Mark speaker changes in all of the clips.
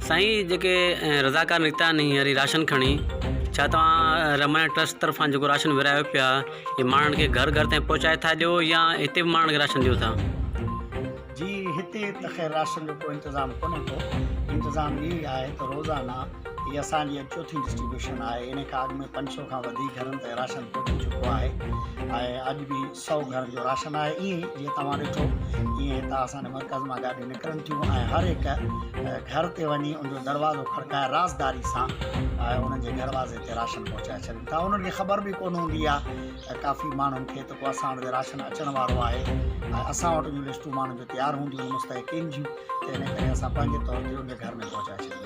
Speaker 1: سائين جيڪي رضاڪار نڪتا آهن هينئر ئي راشن کڻي ڇا توهان رحمانيت ٽرسٽ طرفان جيڪو راشن ورهايو پيا هي ماڻهن کي گهر گهر تائين پهچائي ٿا ڏيو يا هتي به ماڻهن کي راشن ڏيو ٿا جي
Speaker 2: هتي ته خير راشن جو ڪو انتظام ڪونهي ڪو انتظام اهو ئي آهي ته روزانه هي اسان جي چوٿين ڊسٽريبيوشن آهي ان کان اڳ ۾ پنج سؤ کان وڌيڪ گهرن تائين راشن پهچي چڪو آهي ۽ اڄ به سؤ گهرن جو راشن آهي ائين ئي جيئن توهان ڏٺو ائين هتان اسان جي مرڪز مان گاڏيون نڪرن ٿيون ۽ هر هڪ گهر تي وڃي ان جو دروازو کڙڪائي رازداري سان انهن جي دروازي تي راشن پهچائي ڇڏين ٿا انهن کي خبر به ڪونه هوندي آهي ته ڪافي ماڻهن کي ته ڪو اسان وٽ راشن اچڻ وارو آهي ۽ اسان وٽ جون لسٽون ماڻهن جون تيار هونديون آهن مستحقين جون ته ان ڪري اسان پنهنجي طور تي ان جي گهر ۾ پهچائي ڇڏيندا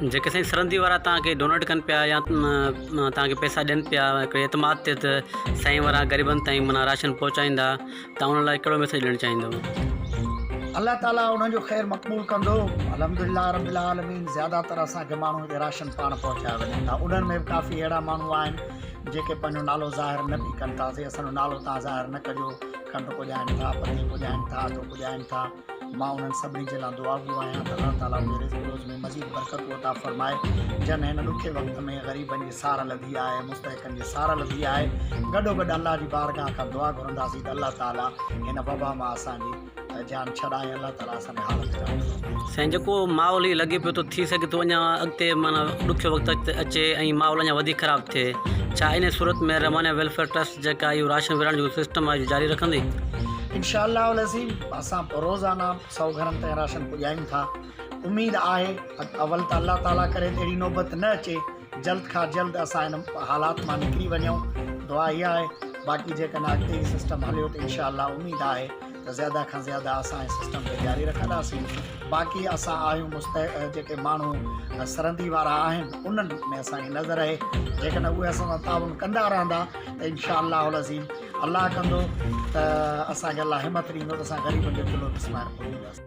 Speaker 2: جيڪي سائين سرندي وارا
Speaker 1: تان کي ڊونيٽ ڪن پيا يا تان کي پيسا ڏين پيا ھڪڙي اعتماد تي تھ سائين وارا غريبن تائين معنيٰ راشن پھچائيندا تان انھن لاء ڪھڙو ميسيج ڏيڻ چاھيندؤ. الله
Speaker 2: تعالي انهن جو خير مقبول ڪندو الحمدلله رب العالمين زياده تر اسان کي ماڻهن کي راشن پاڻ پهچايو وڃن ٿا انهن ۾ به ڪافي اهڙا ماڻهو آهن جيڪي پنهنجو نالو ظاهر نه به ڪن ٿا سي اسان جو نالو تان ظاهر نه ڪجو کنڊ پڄائين ٿا پني پڄائين ٿا اٽو پڄائين ٿا مان انهن سڀني جي لاء دعاگو آهيان ته الله تعاليٰ انهن جي رزق روز ۾ مزيد برڪتون عطا فرمائي جن هن ڏکي وقت ۾ غريبن جي سار لڌي آهي مستحقن جي سار لڌي آهي گڏوگڏ الله جي بارگاهه کان دعا گهرنداسين ته الله تعاليٰ هن وبا مان اسان جي جان ڇڏائي الله تعاليٰ اسان جي حالت کي رحم فرمائي. سائين جيڪو ماحول
Speaker 1: هي لڳي پيو ٿو ٿي سگهي ٿو اڃا اڳتي معنيٰ ڏکيو وقت اچي ۽ ماحول اڃا وڌيڪ خراب ٿئي ڇا انهي صورت ۾ رحمانيه ويلفيئر ٽرسٽ جيڪا اهو راشن ورهائڻ جو سسٽم آهي اهو جاري رکندي؟ انشاء الله
Speaker 2: العظيم. اسان روزانه سؤ گهرن تائين راشن پڄايون ٿا اميد آهي ته اول ته الله تعالي ڪري ته اهڙي نوبت نه اچي جلد کان جلد اسان ان حالات مان نڪري وڃون دعا اها آهي باقي جيڪڏهن اڳتي هي سسٽم هليو ته انشاء الله اميد آهي ته زياده کان زياده اسان هي سسٽم کي جاري رکنداسين باقي اسان آهيون مست جيڪي ماڻهو سرندي وارا آهن انهن ۾ اسانکي نظر رهي جيڪڏهن اهي اسان سان تعاون ڪندا رهندا ته انشاء الله العظيم الله ڪندو ته اسان کي الله همت ڏيندو ته اسان غريبن جو چلهو به سمهاري پونداسين.